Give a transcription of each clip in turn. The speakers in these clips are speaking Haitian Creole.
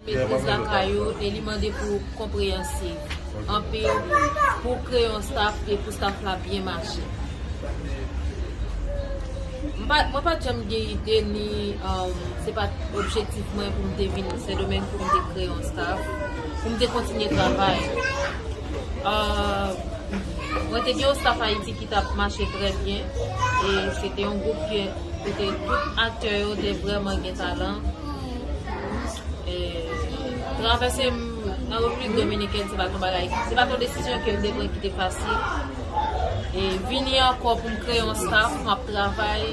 Metriz lakay ou e li mande pou ou konpreyansiv, anpil wi, pou w kreye yon staf e pou staf la byen mache. Mwen pa t janm gen ide ni se pa t objektif mwen pou m te vin Sendomeng pou m te kreye yon staf, pou m te kontinye travay. Mwen te gen yon staf Ayiti ki t ap mache trè byen e se te yon gwoup kote tout aktè yo te vrèman gen talan. Travèse nan Repiblik Dominikèn se pa t yon bagay, se pa t yon desizyon ke m te pran ki te fasil. E vini ankò pou m kreye yon staf, pou m ap travay,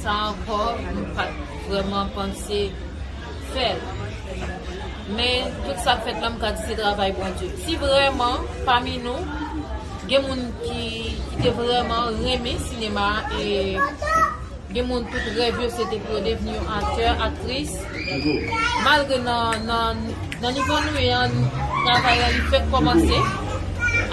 sa ankò m pa t vrèman panse fè l. Men, tout sa k fèt la m ka di se travay Bondye. Si vrèman, pami nou, gen moun ki te vrèman renmen sinema a e. Gen moun tout rèv yo se te pou yo devni yon aktè, aktris. Malgre nan nivo nou ye an, travay la li fèk kòmanse.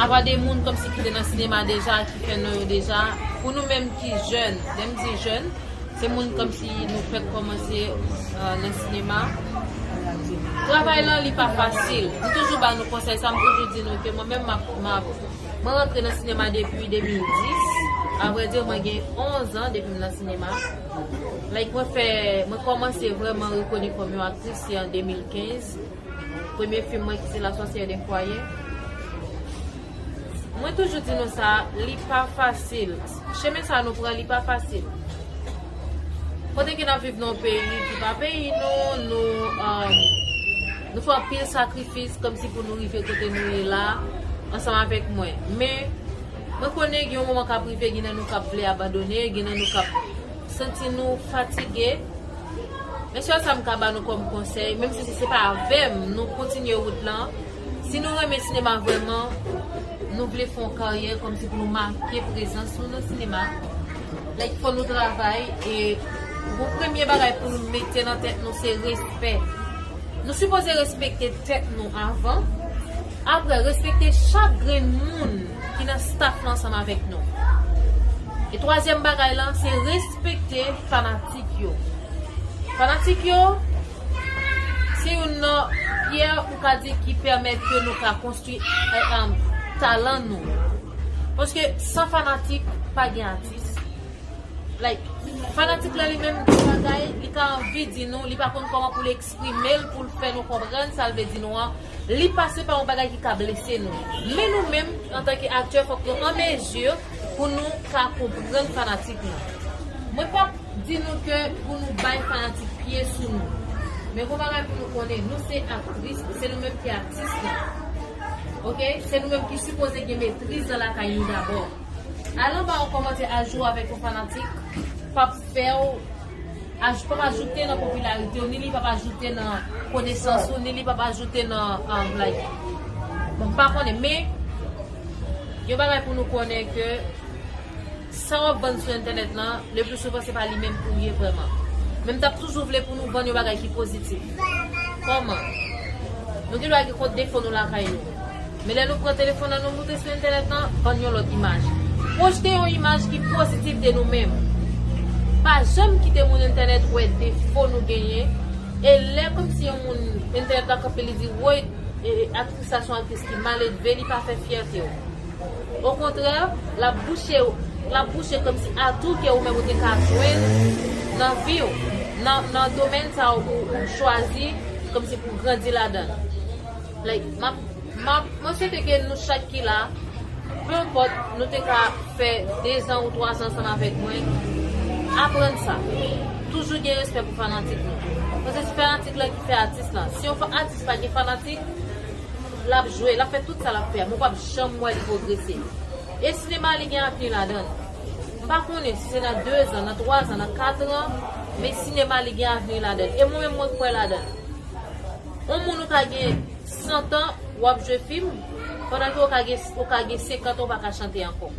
Apa de moun kòmsi ki te nan sinema deja, ki fè non yo deja. Pou nou menm ki jèn, lè m di jèn, se moun kòmsi nou fèk kòmanse nan sinema. Travay lan li pa fasil. M toujou ba nou konsèy sa, m toujou di nou ke mwen menm m ap. Mwen rantre nan sinema depi 2010. A vrè di, mwen gen 11 an depi m nan sinema. Like mwen fè, mwen kòmanse vrèman rekoni kòm yon aktris se an 2015. Premye fim mwen ki se La sorcière d'un foyer. Mwen toujou di nou sa, li pa fasil. Chemen sa nou pran li pa fasil. Kote ke n ap viv nan yon peyi ki pa peyi nou, nou. Nou fè anpil sakrifis kòmsi pou nou rive kote nou ye la a ansanm avèk mwen. Men, mwen konnen gen yon moman k ap rive gen nan nou k ap vle abandone, gen nan nou k ap santi nou fatige. Men sèl sa m ka ba nou kòm konsèy, menm si se pa avè m nou kontinye wout lan, si nou renmen sinema vrèman, nou vle fè yon karyè kòmsi pou nou make prezans nou nan sinema, Like fò nou travay e pou premye bagay pou nou mete nan tèt nou se respè nou sipoze respekte tèt nou avan aprè respekte chak grenn moun ki nan staff lan ansanm avèk nou e twazyèm bagay lan se respekte fanatik yo fanatik yo. Se youn nan pyè ou ka di ki pèmèt ke nou ka konstwi talan nou. Paske san fanatik pa gen atis. Like, fanatik la li menm gen bagay li ta anvi di nou, li pa konn kòman pou l eksprime l, pou l fè nou konprann sa l vle di nou an. Li pase pa yon bagay ki ka blese nou. Men nou menm antanke aktè fòk nou an mezi pou nou ka konprann fanatik nou. Mwen pa. Di nou ke pou nou bay fanatik pye sou nou. Men gon bagay pou nou konnen, nou se aktris, se nou menm ki atis la. Ok, se nou menm ki sipoze gen metriz nan lakay nou dabò. Al anba yon kòmantè a jwe avèk yon fanatik pap fèw, pap ajoute nan popilaritew, ni li pap ajoute nan konesans ou, ni li pap ajoute nan like. Bon, m pa konnen, men yon bagay pou nou konnen ke. Sa wap vann sou entènèt lan, le pli souvan se pa li menm ou ye vrèman. Men m tap toujou vle pou nou vann yon bagay ki pozitif. Kòman? Nou gen dwa gen kont defo nou lakay nou. Men lè nou pran telefòn nan nou moute sou entènèt lan, vann yon lòt imaj. Pwojte yon imaj ki pozitif de nou menm. Pa janm kite moun entènèt wè defo nou genyen, e lè komsi yon moun entènèt la kanpe li di woy aktris sa son aktris ki maledve li pa fè fyète w. Okontrè, l ap bouche w. L ap bouche kòmsi atou ke ou menm ou te ka jwenn nan vi w, nan domèn sa ou chwazi kòmsi pou w grandi ladan l. Like, m ap, m ap, mwen swete ke nou chak ki la, pe enpòt nou te ka fè dezan ou twazan ansanm avèk mwen, aprann sa, toujou gen respè pou fanatik nou. Paske se fanatik lan ki fè atis lan. Si yon atis pa gen fanatik. Lap jwe, lap fè tout sa lap fè, men w pap janm wè li pwogrese. E sinema li gen avni ladan l. M pa konnen si se nan dezan, nan twazan, nan katran, men sinema li gen avni ladan l. E mwen menm mwen kwè ladan l. On moun ou ka gen santan w ap jwe fim, pandan ke ou ka gen senkant an ou pa ka chante ankò.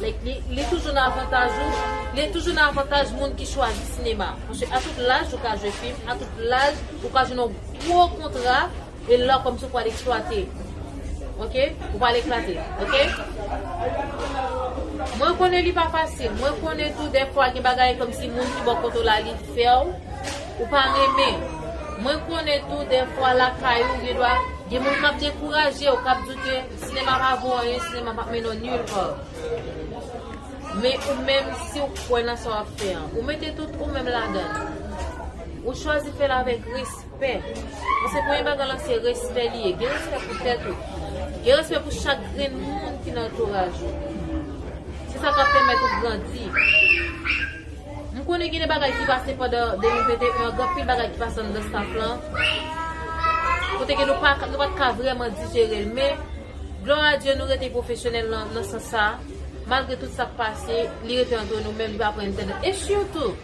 Like, li toujou nan avantaj ou, li toujou nan avantaj moun ki chwazi sinema. Paske a tout laj ou ka jwe fim, a tout laj ou ka jwenn on gwo kontra. E lò kòmsi ou pwal eksplwate ok ou pwal eklate ok mwen konnen li pa fasil mwen konnen tou dèfwa gen bagay kòmsi moun ki bò kote w la li fèw ou pa renmen mwen konnen tou dèfwa lakay ou gen dwa gen moun kap dekouraje w kap di w ke sinema pa vo anyen sinema pap mennen w nil pa men ou menm si w kwè nan sa wap fè an ou mete tout ou menm ladan ou chwazi fèl avèk risk. Pè. Mwen se premye bagay lan se respè li ye. Gen respè pou tèt ou. Gen respè pou chak grenn moun ki nan antouraj ou. Se sa kap pèmèt ou grandi. M konnen gen de bagay ki pase pandan 2021 an. Gen anpil bagay ki pase anndan staff lan. Kote ke nou pat ka vreman dijere l. Men, glwa a Dye nou rete pwofesyonèl nan sans sa. Malgre tout sak pase, li rete antre nou menm jan aprè n te nan. E sitou!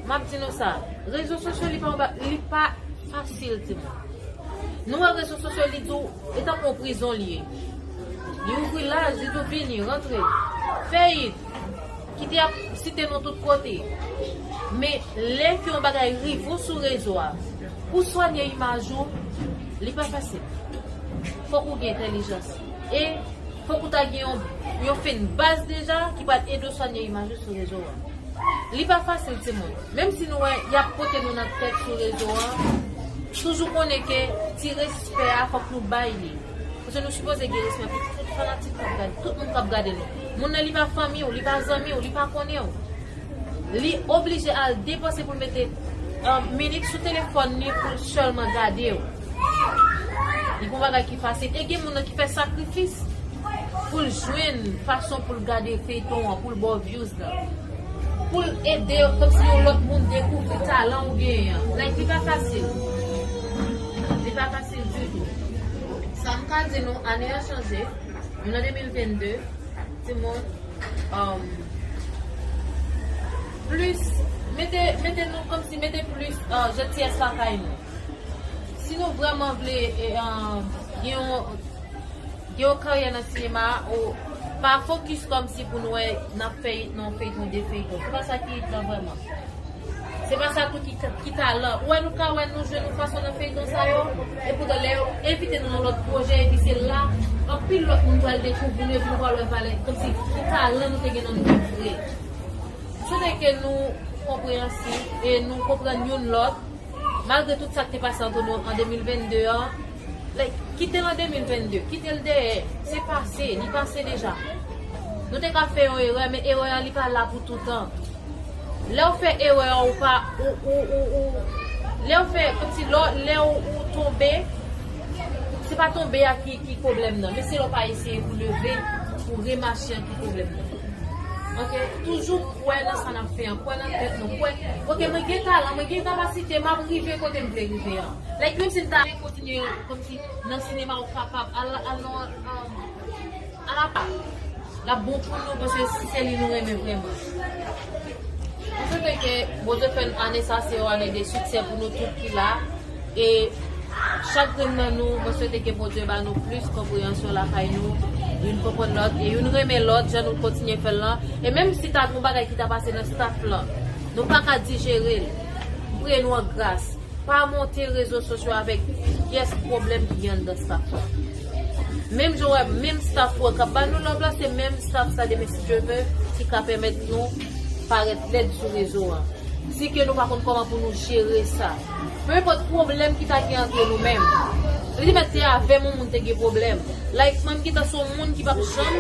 Map di nou sa, rezo sosyo li pa anba, li pa fasil timoun. Nou wè rezo sosyo li tou, li tankou yon prizon li ye. Li ouvri laj, li tou vini, rantre, fè it, kite ap site nou tout kote. Men, lè ke yon bagay rive ou sou rezo a, pou swanye imaj ou, li pa fasil. Fòk ou gen entèlijans. E fok ou ta gen yon fen baz deja ki pral ede w swanye imaj ou sou rezo an. Li pa fasil timoun. Menm si nou wè yap pote nou nan tèt sou rezo an, toujou konnen ke ti respè a fok nou bay li. Paske nou sipoze gen respè pou tout fanatik kap gade, tout moun kap gade nou. Moun nan li pa fanmi w, li pa zanmi w, li pa konnen w. Li oblije al depanse pou l mete minit sou telefòn li pou l sèlman gade w. Li gon bagay ki fasil e gen moun nan ki fè sakrifis poul jwenn fason poul gade feyton an poul baw vyouz la poul ede komsi yon lòt moun dekouvri talan ou genyen an like li pa fasil li pa fasil ditou sam ka di nou ane an chanje nou nan 2022 timoun humm plis mete mete nou komsi mete plis jantiyès lakay nou. Si nou vreman vle gen yon karyè nan sinema a, pa fokis kòmsi pou nou wè nan yon feyton, 2 feyton. Se pa sa ki it lan vreman. Se pa sa tou ki talan. Ou wè nou ka wè nou jwe nou fason nan feyton sa yo, epoutan lè yo envite nou nan lòt pwojè epi se la anpil lòt moun pral dekouvri nou epi nou pral wè valè kòmsi ki talan nou te gen nan nou menm vre. M swete ke nou konpreyansif e nou konprann youn lòt. Malgre tout sak te pase anto nou an 2022 an like kitel an 2022 kitel dèyè se pase li pase deja nou te ka fè yon erè men erè an li pa la pou toutan lèw fè erè an ou pa ou ou ou ou lèw fè komsi lò lèw ou tonbe se pa tonbe a ki problèm nan men se lèw pa eseye pou leve pou remache an ki problèm nan. ok toujou kwè nan sa nap fè an kwè nan tèt nou kwè ok mwen gen talan mwen gen kapasite map rive kotem vle rive an like menm sim ta vle kontinye kòmsi nan sinema ou kapab al al nan al la pa lap bon pou nou paske si se li nou renmen vrèman mwen swete ke Bondye fèn ane sa se yon ane de siksè pou nou tout ki la. E chak grenn nan nou mwen swete ke Bondye ba nou plis konpreyansyon lakay nou youn konprann lòt e youn renmen lòt jan nou kontinye fèl lan e menm si ta gon bagay ki ta pase nan staff lan nou paka dijerel m priye nou an gras pa monte rezo sosyo avèk pyès pwoblèm ki gen anndan staff lan menm jan w wè menm staff ou an kap ba nou love la se menm staff sa demen si Dye vè ki ka pèmèt nou parèt lèd sou rezo an si ke nou pa konn kòman pou nou jere sa. Peu importe pwoblèm ki ta gen antre nou menm. Li te mèt se avèm yon moun te gen pwoblèm. Like mwen m gentan son moun ki pap janm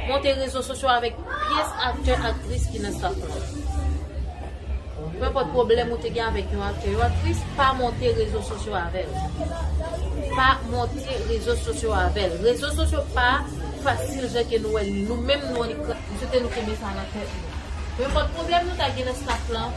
monte rezo sosyo avèk pyès aktè aktris ki nan staff mwen. Peu importe pwoblèm ou te gen avèk yon aktè yon aktris pa monte rezo sosyo avèl. Pa monte rezo sosyo avèl. Rezo sosyo pa fasil jan ke nou wèl. Nou menm nou an li. M swete nou kenbe sa nan tèt nou. Peu importe pwoblèm nou ta gen nan staff lan.